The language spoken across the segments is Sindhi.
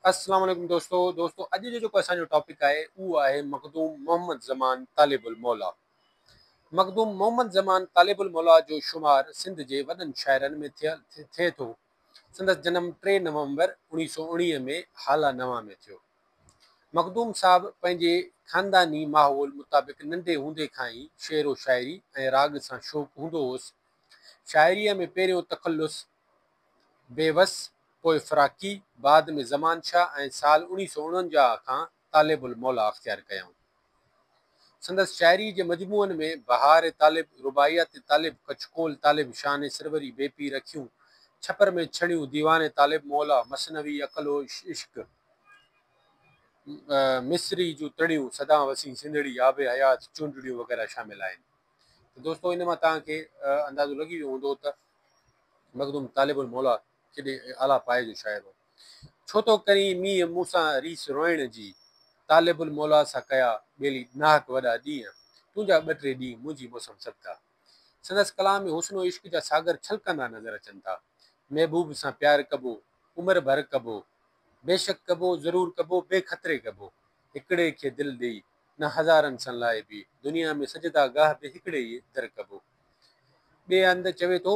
السلام عليڪم دوستو دوستو اڄ جو جيڪو اسان جو ٽاپڪ آهي اهو آهي مخدوم محمد زمان طالب الموليٰ مخدوم محمد زمان طالب الموليٰ جو شمار سنڌ جي وڏن شاعرن ۾ ٿئي ٿو سندس جنم ٽي نومبر اوڻيهه سو اوڻيهه ۾ هالا نوان ۾ ٿيو مخدوم صاحب پنهنجي خانداني ماحول مطابق ننڍي هوندي کان ئي شعر و شاعري ۽ راڳ سان شوق هوندو هوس شاعريء ۾ پهريون تخلص بيوس پوء فراقي، بعد ۾ زمان شاهه ۽ سال اوڻيهه سؤ اڻونجاهه کان طالب الموليٰ اختيار ڪيائون. سندس شاعريء جي مجموعن ۾ بهار طالب، رباعيات طالب، ڪچڪول طالب، شانه سروري، بي پير اکيون، ڇپر ۾ ڇڻيون، ديوان طالب موليٰ، مثنوي، عقل و عشق، مصري جون تڙيون، سدان وسين سنڌڙي، آب حيات، چونڊڙيون وغيره شامل آهن. ته دوستو ان مان توهان کي اندازو لڳي ويو هوندو ته مخدوم طالب الموليٰ ڪيڏي اعليٰ پايي جو شاعر هو. ڇو ٿو ڪرين مينهن مون سان ريس روئڻ جي. طالب الموليٰ سان ڪيا ٻيلي ناحق وڏا ڏينهن. تنهنجا ٻه ٽي ڏينهن منهنجي موسم سبدا. سندس ڪلام ۾ حسن و عشق جا ساگر ڇلڪندا نظر اچن ٿا. محبوب سان پيار ڪبو، عمر ڀر ڪبو. بيشڪ ڪبو، ضرور ڪبو، بي خطري ڪبو. هڪڙي کي دل ڏيئي، نه هزارن سان لائبي. دنيا ۾ سجدا گاهه به هڪڙي ئي در ڪبو. ٻئي هنڌ چوي ٿو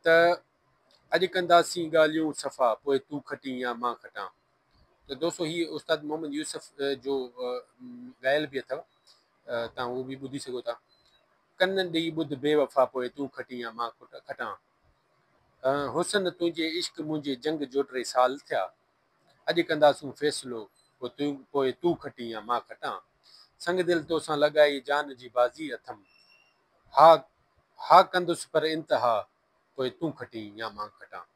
ته اڄ ڪنداسين ڳالهيون صفا پوء تون کٽين يا مان کٽان ته دوستو هي استاد محمد يوسف جو ڳايل به اٿو تان هو به ٻڌي سگهو ٿا ڪن ڏي ٻڌ بي وفا پوء تون کٽين يا مان کٽان حسن تنهنجي عشق منهنجي جنگ جوٽري سال ٿيا اڄ ڪنداسون فيصلو، پوء تون کٽين يا مان کٽان. سنگ دل توسان لڳائي جان جي بازي اٿم. ها ها ڪندس پر انتها، پوء تون کٽين يا مان کٽان.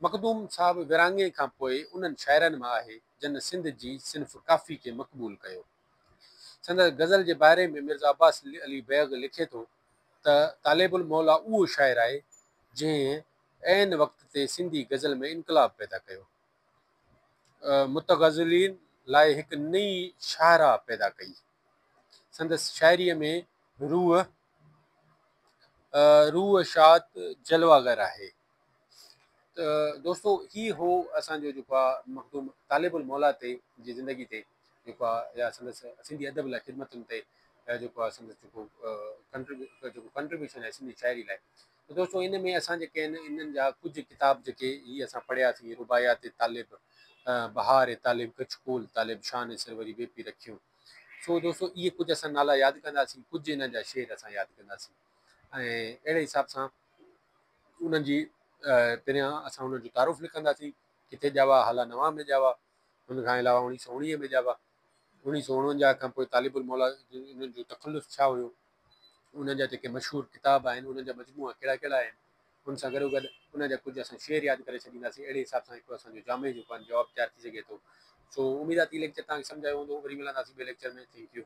مخدوم صاحب ورهاڱي کان پوء انهن شاعرن مان آهي جن سنڌ جي صنف ڪافي کي مقبول ڪيو. سندس غزل جي باري ۾ مرزا عباس علي بيگ لکي ٿو ته طالب الموليٰ اهو شاعر آهي جنهن عين وقت تي سنڌي غزل ۾ انقلاب پيدا ڪيو. متغزلين لاء هڪ نئين شاهراهه پيدا ڪئي. سندس شاعريء ۾ روح، روح شاد جلوه گر آهي. ته دوستو هي هو اسان جو جيڪو آ مخدوم طالب الموليٰ تي جي زندگي تي جيڪو آ يا سندس سنڌي ادب لاء خدمتن تي جيڪو آ سندس جيڪو ڪنٽريبيوشن آهي سنڌي شاعري لاء ته دوستو ان ۾ اسان جيڪي آهن انهن جا ڪجهه ڪتاب جيڪي هي اسان پڙهياسين رباعيات طالب، بهار طالب، ڪڇ ڪول طالب، شاهه نصير وري بي پي رکيون. سو دوستو اهي ڪجهه اسان نالا ياد ڪنداسين ڪجهه انهن جا شعر اسان ياد ڪنداسين ۽ اهڙي حساب سان انهن جي پريان اسان انهن جو تعارف لکنداسين ڪٿي ڄاوا هالا نوان ۾ ڄاوا ان کان علاوه اوڻيهه سؤ اوڻيهه ۾ ڄاوا. اڻيهه سؤ اڻونجاهه کان پوء طالب الموليٰ جن جو تخلص ڇا هيو، انهن جا جيڪي مشهور ڪتاب آهن، انهن جا مجموعا ڪهڙا ڪهڙا آهن، ان سان گڏوگڏ انهن جا ڪجهه اسان شعر ياد ڪري ڇڏينداسين، اهڙي حساب سان هڪڙو اسان جو جامع جيڪو آهن جواب تيار ٿي سگهي ٿو. سو اميد آهي ته هي ليڪچر توهان کي سمجهه آيو هوندو، وري ملنداسين ٻئي ليڪچر ۾، ٿينڪ يو.